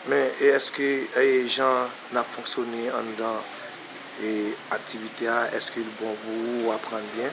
Men e eske e jan nap fonksyone anndan e aktivite a eske li bon pou ou ou aprann byen?